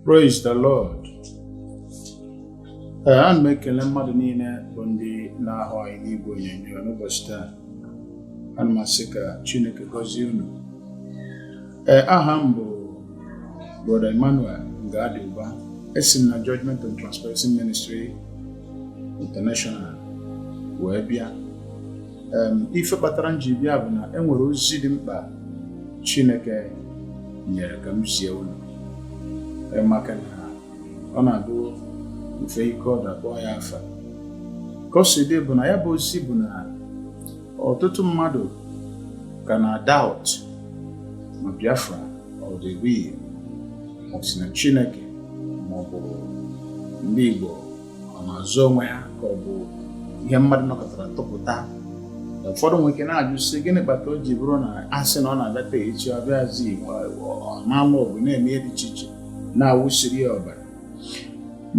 Praise the Lord. Ee, ana m ekele mmadụ niile bụ ndị na-ahụ anyị n'igwe onyonyo n'ụbọsị taa. Ana m asị ka Chineke gọzie unu. Ee, aha m bụ Brother Emmanuel Ngadiuba. Esi m na Judgment and Transparency Ministry International wee bịa. ife kpatara m ji bịa bụ na e nwere ozi dị mkpa Chineke nyere ka m zie unu e, maka na ọ na-abụ mfe ike ọ dakpọ ya afa ka o si dị bụ na ya bụ ozi bụ na ọtụtụ mmadụ ka na-doubt ma Biafra ọ dị real ma o si na Chineke maọbụ ndị Igbo ọ na-azọ onwe ha ka ọ bụ ihe mmadụ nọkatara tụpụta ụfọdụ nwere ike na-ajụ sị gịnị kpata o ji bụrụ na a sị na ọ na-abata echi ọ bịazi na-alụ ọgụ na-eme ihe dị iche iche na-awụsiri ya ọbara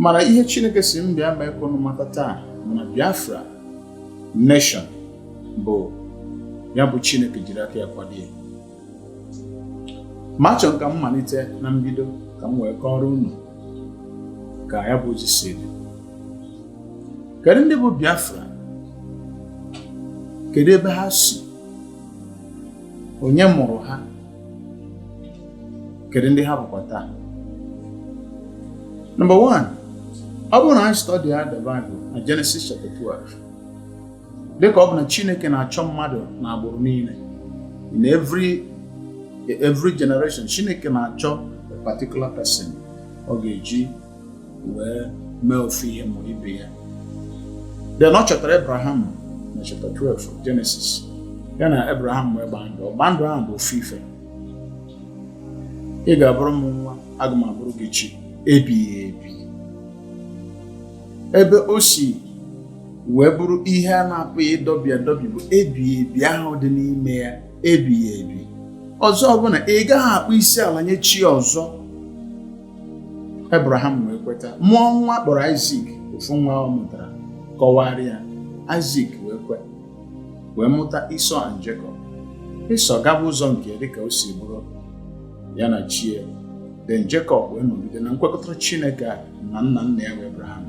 mana ihe Chineke sị m bịa mee ka unu mata taa bụ na Biafra nation bụ ya bụ Chineke jiri aka ya kwado ya ma achọrọ m ka m malite na mbido ka m wee kọọrọ unu ka ya bụ ozi si dị kedu ndị bụ Biafra kedu ebe ha si onye mụrụ ha kedu ndị ha bụkwa taa number 1 ọ bụrụ na anyị study the Bible na Genesis chapter 12 dịka ọ bụ na Chineke na-achọ mmadụ na agbụrụ niile in every generation Chineke na-achọ a particular person ọ ga-eji wee mee ofu ihe ma ibe ya then ọ chọtara Abraham na chapter 12 Genesis ya na Abraham wee gbaa ndụ ọgba ndụ ahụ bụ ofu ife ị ga-abụrụ m nwa aga m abụrụ gị chi ebighị ebi ebe o si wee bụrụ ihe a na-apụghị ịdọbi adọbi bụ ebighị ebi ahụ dị n'ime ya ebighị ebi ọzọ bụ na ị gaghị akpọ isi ala nye chi ọzọ Abraham wee kweta mụọ nwa a kpọrọ Isaac ofu nwa ọ mụtara kọwara ya Isaac wee kwe wee mụta Esau and Jacob Esau gaba ụzọ nke dịka o si bụrụ ya na chi ya then Jacob wee nọgide na nkwekọrịta Chineke a na nna nna ya bụ Abraham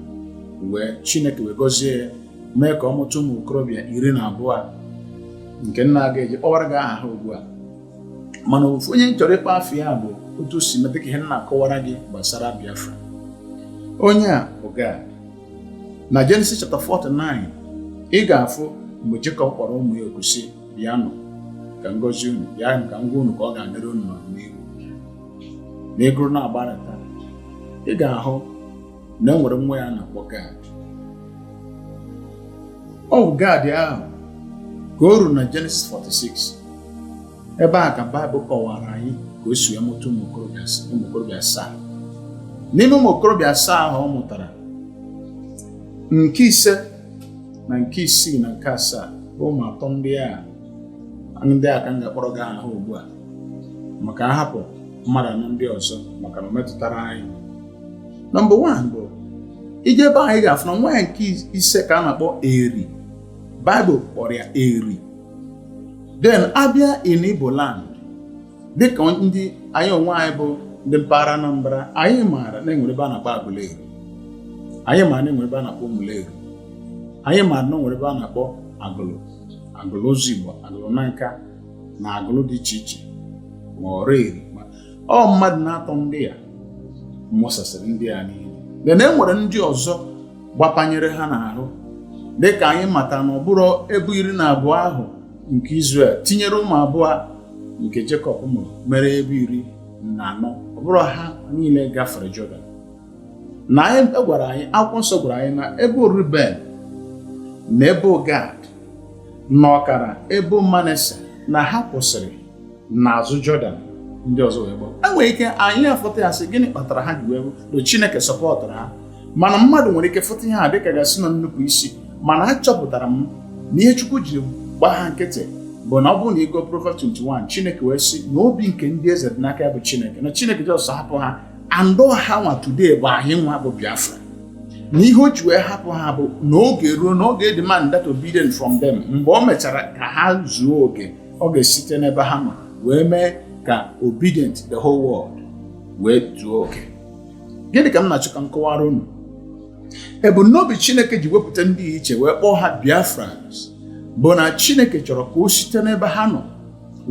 wee Chineke wee gọzie ya mee ka ọ mụta ụmụ okorobịa iri na abụọ nke m na-agaghị akpọwara gị aha ha ugbu a mana ofu onye m chọrọ ịkpọ afa ya bụ otu o si metụ aka ihe m na-akọwara gị gbasara Biafra onye a bụ Gad na Genesis chapter 49 ị ga-afụ mgbe Jacob kpọrọ ụmụ ya oku sị bịanụ ka m gọzie unu bịa ka m gwa unu ka ọ ga-adịrị unu n'ọdịnihu na ị gụrụ na-agbarata ị ga-ahụ na enwere nwa ya na-akpọ gad ọ bụ gad ahụ ka o ruru na Genesis 46 ebe a ka Baịbụl kọwara anyị ka o si wee mụta ụmụ okorobịa asaa n'ime ụmụ okorobịa asaa ahụ ọ mụtara nke ise na nke isii na nke asaa bụ ụmụ atọ ndị a ndị a ka m ga-akpọrọ gị aha ugbu a maka a hapụ mmadụ anọ ndị ọzọ maka na o metụtara anyị number one bụ ije ebe anyị ga-afụ na nwa ya nke ise ka a na-akpọ eri baịbụl kpọrọ ya eri then a bịa in Igbo land dịka ndị anyị onwe anyị bụ ndị mpaghara Anambra anyị maara na enwere ebe a na-akpọ Aguleri anyị maara na enwere ebe a na-akpọ Umuleri anyị maara na enwere ebe a na-akpọ Agụlụ Agụlụ Ụzọigbo Agụlụ Nanka na agụlụ dị iche iche ma Ọraeri ma ọ mmadụ n'atọ ndị a mụsasịrị ndị a niile then e nwere ndị ọzọ gbapanyere ha n'ahụ dịka anyị mata na ọ bụrọ ebo iri na abụọ ahụ nke Izrel tinyere ụmụ abụọ nke Jekọb mụrụ mere ebo iri na anọ ọ bụrọ ha niile gafere Jọdan na anyị a gwara anyị akwụkwọ nsọ gwara anyị na ebo ruben na ebo gad na ọkara ebo manase na ha kwụsịrị n'azụ jọdan ndị ọzọ wee gbaa e nwere ike anyị afụta ya sị gịnị kpatara ha ji wee bụ chineke sọpọtụrụ ha mana mmadụ nwere ike fụta ihe a dịka a ga-asị na nnupụ isi mana achọpụtara m na ihe chukwu jiri gbaa ha nkịtị bụ na ọ bụrụ na ị gụọ Proverbs 21 Chineke wee sị na obi nke ndị eze dị n'aka ya bụ Chineke na Chineke just hapụ ha and ọ ha nwa today bụ anyị nwa bụ biafra na ihe o ji wee hapụ ha bụ na oge ruo na ọ ga-edemand that obedient from them mgbe o mechara ka ha zuo oke ọ ga-esite n'ebe ha nọ wee mee ka obedient the whole world wee zuo oke gịnị ka m na-achọ ka m kọwara unu ebumnobi chineke ji wepụta ndị a iche wee kpọọ ha biafrans bụ na chineke chọrọ ka o site n'ebe ha nọ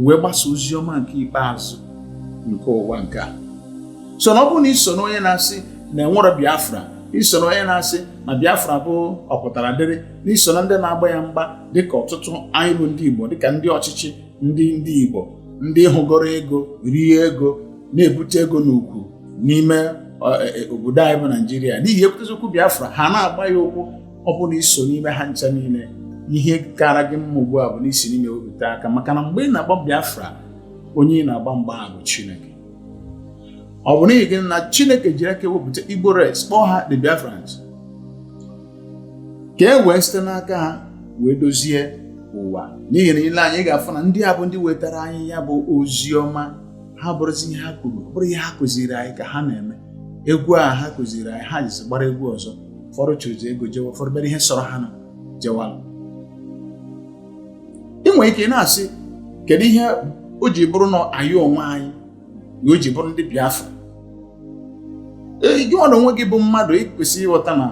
wee gbasa ozi ọma nke ikpeazụ nke ụwa nke a so na ọ bụrụ na ị so na onye na-asị na enwere biafra ị so na onye na-asị na biafra bụ ọ pụtara dịrị na ị so na ndị na-agba ya mgba dịka ọtụtụ anyị bụ ndị igbo dịka ndị ọchịchị ndị ndị igbo ndị hụgoro ego rie ego na-ebute ego n'ukwu n'ime e, e, obodo anyị bụ naijiria n'ihi e kwutezi okwu biafra ha na-agba ya ụkwụ ọ bụrụ na i so n'ime ha ncha niile ihe kara gị mma ugbu a bụ na i si n'ime wepụta aka maka na mgbe ị na-agba Biafra onye ị na-agba mgba a bụ Chineke ọ bụ n'ihi gịnị Chineke jiri aka wepụta Igbo race kpọọ ha the Biafrans ka e wee site n'aka ha wee dozie ụwa n'ihi na i lee anya ị ga-afụ na ndị a bụ ndị wetara anyị ya bụ ozi ọma ha abụrọzi ihe ha kwuru bụrụ ihe ha kụziri anyị ka ha na-eme egwu a ha kụziri anyị ha jizi gbara egwu ọzọ ụfọdụ chụzi ego jewe ụfọdụ mere ihe sọrọ ha na jewala ị nwere ike na-asị kedu ihe o ji bụrụ na anyị onwe anyị na o ji bụrụ ndị Biafra gị nwa na onwe gị bụ mmadụ i kwesị ịghọta na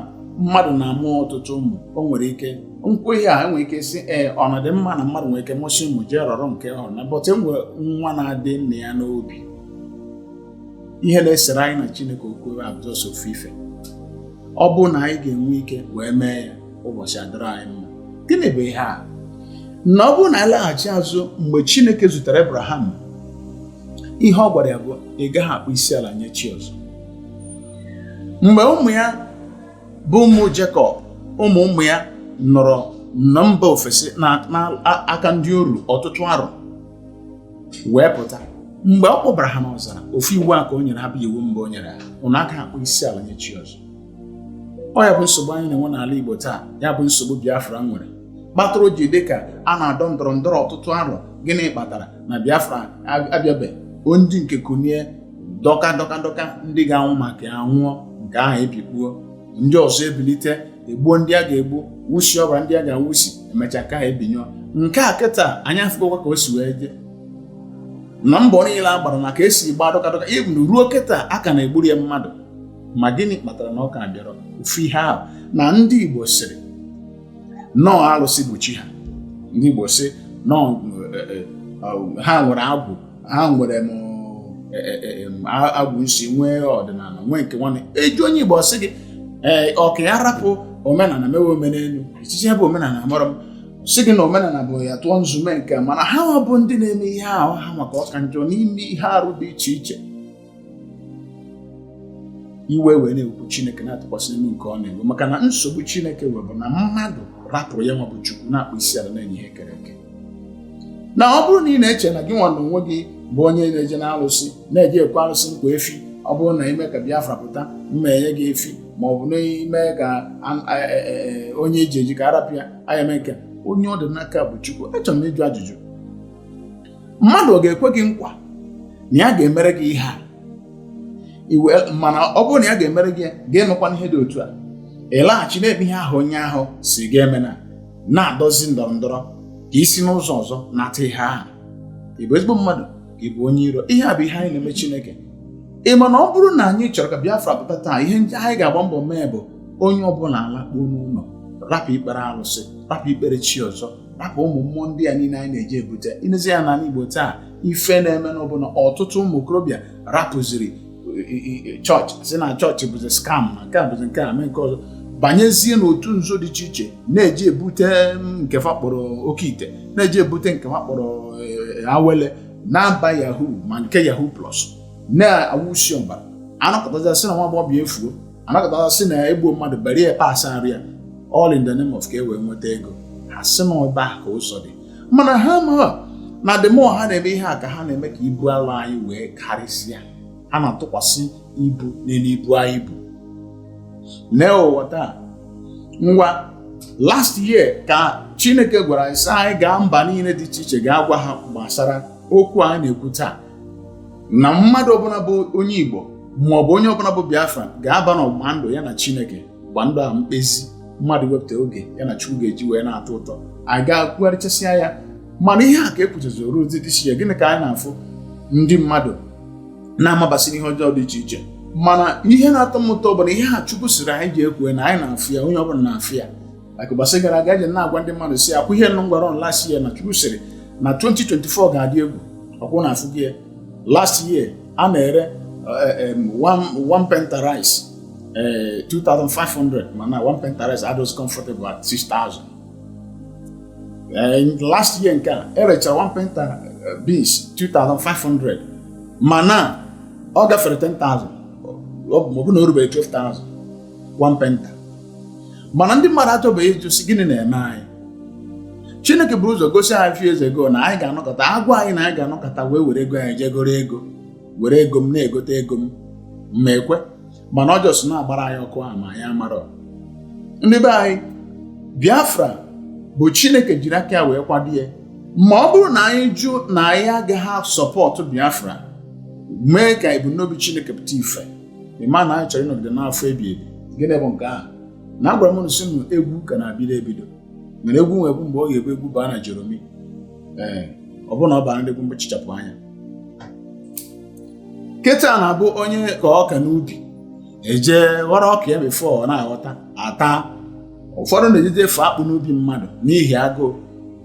mmadụ na-amụ ọtụtụ ụmụ o nwere ike nkwa ihe a e nwere ike sị ee ọ na dị mma na mmadụ nwere ike mụsịa ụmụ jee rọrọ nke ọ na bọta e nwe nwa na-adị nna ya n'obi ihe na-esere anyị na Chineke okwu bụ just ofu ife ọ bụrụ na anyị ga-enwe ike wee mee ya ụbọchị adịrị anyị mma gịnị bụ ihe a na ọ bụrụ na a laghachi azụ mgbe Chineke zutere Abraham ihe ọ gwara ya bụ ị gaghị akpọ isi ala nye chi ọzọ mgbe ụmụ ya bụ ụmụ Jekọb ụmụ ụmụ ya nọrọ na mba ofesi n'aka ndị oru ọtụtụ arọ wee pụta mgbe ọ kpọbara ha n'ọzara ofu iwu a ka o nyere ha bụ iwu mbụ o nyere ha ụnụ aka akpọ isi ala nye chi ọzọ ọ ya bụ nsogbu anyị na-enwe n'ala Igbo taa ya bụ nsogbu Biafra nwere kpatara o ji dị ka a na-adọ ndọrọ ndọrọ ọtụtụ arọ gịnị kpatara na Biafra abịabe ndị nke kunie dọka dọka dọka ndị ga-anwụ maka ya anwụọ nke ahụ ebikpuo ndị ọzọ ebilite egbuo ndị a ga-egbu wusi ọbara ndị a ga-awusi e mecha nke ahụ ebinyụọ nke a kịta anyị afụgokwa ka o si wee jee na mbọ niile a gbara maka e si gba dọka dọka even ruo kịta a ka na-egburu ya mmadụ ma gịnị kpatara na ọ ka bịarọ ofu ihe ahụ na ndị Igbo sịrị no alụsị bụ chi ha ndị Igbo sị no eh, eh, eh, ha nwere agwụ ha nwere m e, e, e, agwụ nsi nwee ọdịnala nwee nke nwanne e ji onye Igbo sị gị ee ọ ka arapụ omenala mewe omenelu echiche bụ omenala mara m sị gị na omenala bụ ya tụọ nzu mee nke a mana ha bụ ndị na-eme ihe ahụ ha nwa ka ọ ka njọ n'ime ihe arụ dị iche iche iwe wee na-ekwu chineke na-atụkwasị elu nke ọ na-ewe maka na nsogbu chineke nwere bụ na mmadụ rapụrụ ya nwa bụ chukwu na-akpọ isi ala na-enye ihe e kere eke na ọ bụrụ na ị na-eche na gị nwa na onwe gị bụ onye na-eje na alụsị na-eje ekwe alụsị nkwa efi ọ bụrụ na i mee ka biafra pụta mma enye gị efi ma ọ bụ na i mee ka onye e ji eji ka a rapụ ya anyị emee nke onye ọ dị n'aka bụ chukwu achọrọ m ịjụ ajụjụ mmadụ ọ ga-ekwe gị nkwa na ya ga-emere gị ihe a mana ọ bụrụ na ya ga-emere gị ga-emekwa ihe dị otu a ịlaghachi n'ebe ihe ahụ onye ahụ sị ga-eme na-adọzi ndọrọ ndọrọ ka i si n'ụzọ ọzọ nata ihe ahụ ị bụ ezigbo mmadụ ka ị bụ onye iro ihe a bụ ihe anyị na-eme Chineke ị ma na ọ bụrụ na anyị chọrọ ka Biafra pụta taa ihe ndị anyị ga-agba mbọ mee bụ onye ọbụla alakpuo n'ụlọ rapụ ikpere alụsị rapụ ikpere chi ọzọ rapụ ụmụ mmụọ ndị a niile anyị na-eje ebute i nezie ya n'ala Igbo taa ife na-emenụ bụ na ọtụtụ ụmụ okorobịa rapụziri chọọchị sị na chọọchị bụzi scam na nke a bụzi nke a mee nke ọzọ banyezie n'otu nzuzo dị iche iche na-eje ebute mm, nke fa kpọrọ oke ite na-eje ebute nke fa kpọrọ eh, awele na-aba yahoo ma nke yahoo plus na-awụsi ọbara a nọkatazie a sị na nwa agbọghọbịa efuo a nọkata sị na e gbuo mmadụ bari ya parts arụ ya all in the name of ka e wee nweta ego ha sị na ebe a ka ụzọ dị mana ha ma na the more ha na-eme ihe a ka ha na-eme ka ibu ala anyị wee karịsịa ha na-atụkwasị ibu n'elu ibu anyị bu n'ụwa taa ngwa last year ka chineke gwara anyị sị anyị gaa mba niile dị iche iche gaa gwa ha gbasara okwu anyị na-ekwu taa na mmadụ ọbụla bụ onye Igbo ma ọ bụ onye ọbụla bụ Biafra ga-aba n'ọgbụgba ndụ ya na Chineke gba ndụ a mkpezi mmadụ wepụta oge ya na Chukwu ga-eji wee na-atọ ụtọ anyị ga-akwugharịchasịa ya mana ihe a ka ekwuchazi oru ozi dị iche gịnị ka anyị na-afụ ndị mmadụ na-amabasị n'ihe ọjọọ dị iche iche mana ihe na-atọ m ụtọ bụ na ihe a Chukwu sịrị anyị jee kwuo na anyị na-afụ ya onye ọbụla na-afụ ya maka ụbọchị gara aga eji na-agwa ndị mmadụ sị ọkwa ihe nụ m gwara unu last year na chukwu sịrị na 2024 ga-adị egwu ọkwa unu afụgo ya. last year a na-ere eh, em, one one painter rice eh, 2500 mana one painter rice adịgo comfortable at 6000 Eh, in last year nke a e rechara one painter eh, beans 2500 mana ọ gafere 10000 ọ bụ ma ọ bụ na o rubeghị 12000 one painter mana ndị mmadụ achọbeghị ịjụ sị gịnị na-eme anyị chineke buru ụzọ gosi anyị few years ago na anyị ga-anọkata a gwa anyị na anyị ga-anọkata wee were ego anyị jee goro ego were ego m na-egote ego m ma ekwe mana ọ just na-agbara anyị ọkụ ahụ ma anyị amarọ ndị be anyị biafra bụ chineke jiri aka ya wee kwado ya ma ọ bụrụ na anyị jụ na anyị agaghị support biafra mee ka ebumnobi chineke pụta ife ị ma na anyị chọrọ ịnọgide n'afụfụ ebi ebi gịnị bụ nke ahụ na agwara m unu sị unu egwu ka na-abido ebido nwere egwu nwe bụ mgbe ọ ga-ebu egwu baa na joromi ee ọ bụrụ na ọ bara ndị egwu mgbachichapụ anya kịta na-abụ onye ka ọka n'ubi eje ghọrọ ọka ya before ọ na-aghọta ata ụfọdụ na-ejeje efe akpụ n'ubi mmadụ n'ihi agụụ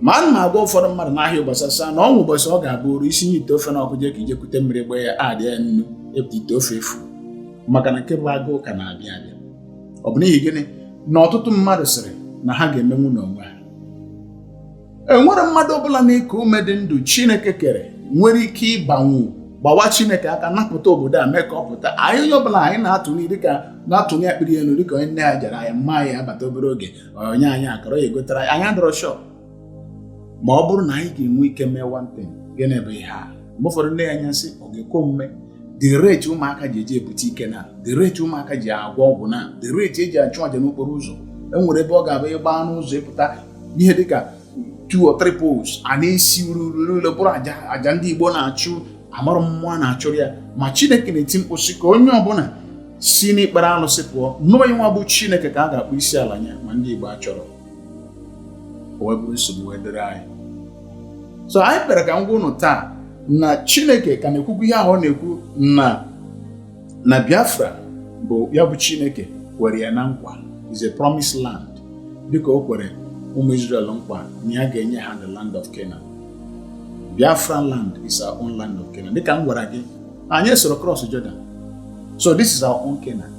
ma ana m agwa ụfọdụ mmadụ n'ahịa ụbọchị a sị ha na o nwe ụbọchị ọ ga-abụrụ i sinye ite ofe na ọkụ jee ka i je kute mmiri gbaa ya adị ya nnu ị pụta ite ofe efu maka na nke bụ agụụ ka na-abịa abịa ọ bụ n'ihi gịnị na ọtụtụ mmadụ sịrị na ha ga-emenwu n'onwe ha enwerọ mmadụ ọbụla na-eku ume dị ndụ Chineke kere nwere ike ịbanwu gbawa Chineke aka napụta obodo a mee ka ọ pụta anyị onye ọbụla anyị na-atụnye dịka na-atụnye akpịrị elu dịka onye nne ya jere ahịa ma ya abata obere oge o nye anyị akara ya egotara anyị adịrọ sure ma ọ bụrụ na anyị ga-enwe ike mee one thing gịnị bụ ihe a mgbe ụfọdụ m nee ya anya sị ọ ga-ekwe omume the rate ụmụaka ji eje ebute ike na the rate ụmụaka ji agwọ ọgwụ na the rate eji achụ aja n'okporo ụzọ enwere ebe ọ ga-abụ ịgba n'ụzọ ị pụta ihe dịka two or three poles a na-esi ure ure bụrụ aja ndị Igbo na-achụ amarọ mmụọ a na-achụrụ ya ma Chineke na-eti mkpu sị ka onye ọbụla si n'ikpere alụsị pụọ na ọ ya nwa bụ Chineke ka a ga-akpọ isi ala nye ma ndị Igbo achọrọ o wee bụrụ nsogbu wee dịrị anyị so anyị kpere ka m gwa unu taa na Chineke ka na-ekwukwu ihe ahụ ọ na-ekwu na Biafra bụ ya bụ Chineke kwere ya na nkwa is a promised land dịka o kwere ụmụ Israel nkwa na ya ga-enye ha the land of Canaan Biafra land is our own land of Canaan dịka m gwara gị anyị esorọ cross Jordan so this is our own Canaan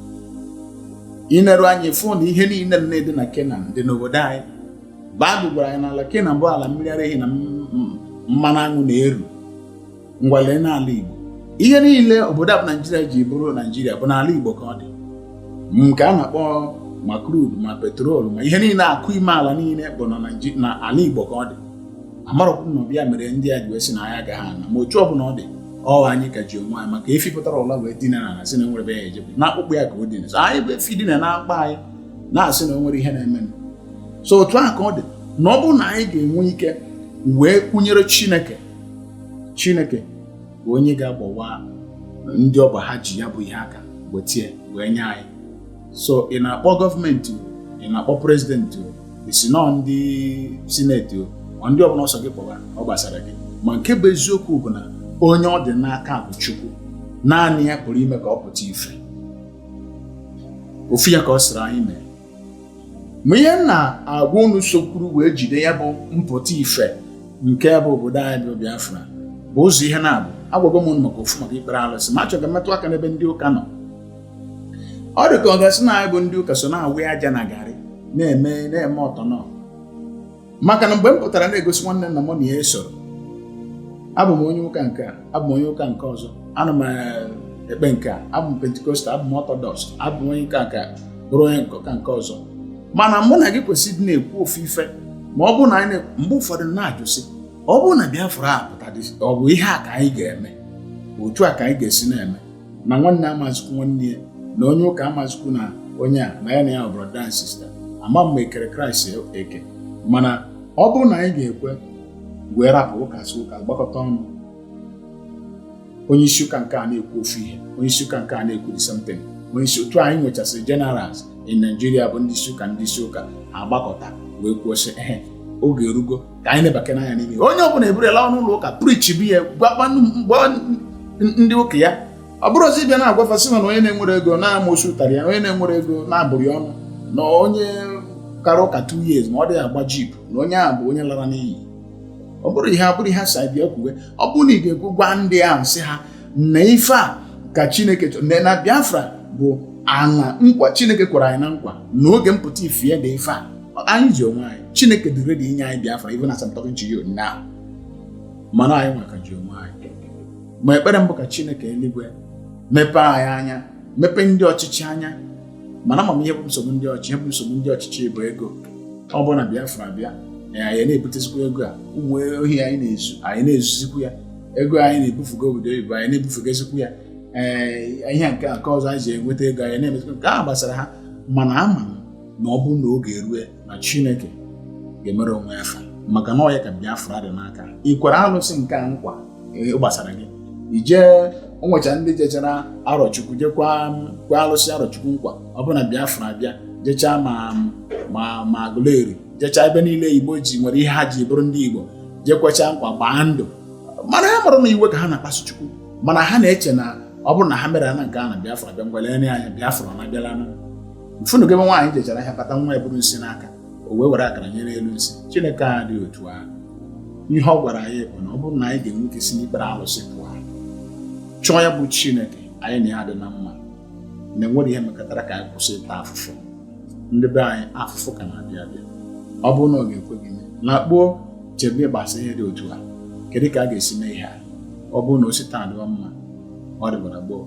i neru anya ị fụ na ihe niile na-adị na Canaan dị n'obodo anyị Baịbụl gwara anyị na ala Canaan bụ ala mmiri ara ehi na mmanụ aṅụ na-eru ngwa lee n'ala Igbo ihe niile obodo a bụ Naijiria ji bụrụ Naijiria bụ n'ala Igbo ka ọ dị nke a na-akpọ ma crude ma petrol ma ihe niile akụ ime ala niile bụ na ala Igbo ka ọ dị amarọkwụ na ọ bụ ya mere ndị a ji wee sị na anyị agaghị ana ma otu ọ bụla ọ dị ọ anyị ka ji onwe anyị maka efi pụtara ụla wee dina ana sị na enwerọ ebe ya ejebe na akpụkpọ ya ka o dina so anyị bụ efi dina na akpa anyị na-asị na o nwerọ ihe na-eme so otu a ka ọ dị na ọ bụrụ na anyị ga-enwe ike wee kwụnyere Chineke chineke bụ onye ga-agbawa ndị ọ bụ ha ji ya bụ ihe aka weta ya wee nye anyị so ị na-akpọ gọọmenti ị na-akpọ prezidenti o ị sị na ọ ndị sineti o ma ndị ọbụla ọ sọ gị kpọba ọ gbasara gị ma nke bụ eziokwu bụ na onye ọ dị n'aka bụ chukwu naanị ya pụrụ ime ka ọ pụta ife ofu ya ka ọ sịrị anyị mee ma ihe m na-agwa unu sokwuru wee jide ya bụ mpụta ife nke bụ obodo anyị bụ Biafra bụ ụzọ ihe naabọ agwago m unu maka ofu maka ikpere alụsị ma achọrọ m ka m metụ aka n'ebe ndị ụka nọ ọ dị ka ọ ga-asị na anyị bụ ndị ụka so na-awụ aja na garị na-eme na-eme ọtọ nọ maka na mgbe m pụtara na-egosi nwanne na mụ na ya esoro abụ m onye ụka nke a abụ m onye ụka nke ọzọ ana m eh, ekpe nke a abụ m Pentecostal abụ m Orthodox abụ m onye ụka nke a bụrụ onye ụka nke ọzọ mana mụ na gị kwesịrị ịdị na-ekwu ofu ife ma ọ bụrụ na anyị mgbe ụfọdụ na-ajụ sị ọ bụrụ na Biafra apụta ọ bụ ihe a ka anyị ga-eme otu a ka anyị ga-esi na-eme na nwanne amazikwu nwanne ya na onye ụka amazikwu na onye a na ya na ya brother and sister ama m ma ekere Christ eke mana ọ bụrụ na anyị ga-ekwe wee rapụ ụka si ụka gbakọta ọnụ onye isi ụka nke a na-ekwu ofu ihe onye isi ụka nke a na-ekwu the same thing onye isi otu anyị nwechasịrị generals in Nigeria bụ ndị isi ụka ndị isi ụka agbakọta wee kwuo sị ehe oge erugo ka anyị na-ebake n'anya n'ime onye ọbụla eburu laa n'ụlọ ụka preachibe ya gwakwa ndị ụka ya ọ bụrọzi ịbịa na-agwa fa sị na onye na-enwerọ ego na amosu tarị ya onye na-enwerọ ego na a bụrụ ya ọnụ na onye kara ụka 2 years ma ọ dịghị agba jeep na onye ahụ bụ onye lara n'iyi ọ bụrụ ihe abụrụ ihe si bịa kwuwe ọ bụrụ na ị ga-ekwu gwa ndị ahụ sị ha na ife a ka chineke chọrọ na biafra bụ ana nkwa chineke kwere anyị na nkwa na oge mpụta ife ya dị ife a anyị ji onwe anyị chineke dị ready inye anyị biafra even as I'm talking to you now mana anyị nwa ka ji onwe anyị ma ekpere m bụ ka chineke eluigwe mepee anyị anya mepee ndị ọchịchị anya mana ama m ihe bụ nsogbu ndị ọchịchị ihe bụ nsogbu ndị ọchịchị bụ ego ọ bụrụ na biafra bịa anyị na-ebutezikwa ego a ụmụ ohi anyị na-ezu anyị na-ezuzikwu ya ego anyị na-ebufugo obodo oyibo anyị na-ebufugozikwu ya ee ihe nke nke ọzọ anyị ji enweta ego anyị na-emezikwa nke a gbasara ha mana ama m na ọ bụrụ na oge erue na Chineke ga-emere onwe ya fa maka na ọ ya ka Biafra dị n'aka ị kwere alụsị nke a nkwa e, gbasara gị ị jee o nwecha ndị jechara arọchukwu jekwa kwe alụsị arọchukwu nkwa ọ bụrụ na Biafra bịa jechaa ma ma ma agụleri jechaa ebe niile Igbo ji nwere ihe ha ji bụrụ ndị Igbo jekwecha nkwa gbaa ndụ mana ha amarọ na iwe ka ha na-akpasu Chukwu mana ha na-eche na ọ bụrụ na ha mere na nke a na Biafra bịa ngwa lee anya Biafra na abịala mfunu gị nwaanyị jechara ahịa bata nwa eburu nsị n'aka o wee were akara nyere elu nsị chineke adị otu ahụ ihe ọ gwara anyị bụ na ọ bụrụ na anyị ga-enwe ike si n'ikpere alụsị pụọ chọọ ya bụ chineke anyị na ya dị na mma na enwere ihe mekọtara ka anyị kwụsị ịta afụfụ ndị be anyị afụfụ ka na-abịa abịa ọ bụrụ na ọ ga-ekwe gị mee nakpuo chebe gbasa ihe dị otu a kedu ka a ga-esi mee ihe a ọ bụrụ na o si taa dịwa mma ọ dịbara gboo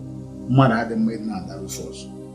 mmadụ adị mma ịdị na-adara ofe ọzọ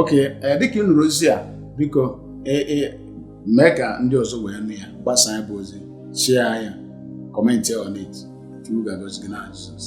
okay eh, dịka ị nụrụ ozi a biko eh, eh, mee ka ndị ọzọ wee nụ ya gbasaa ya bụ ozi share ya comment on it chukwu ga-agọzi gị n'aha Jizọs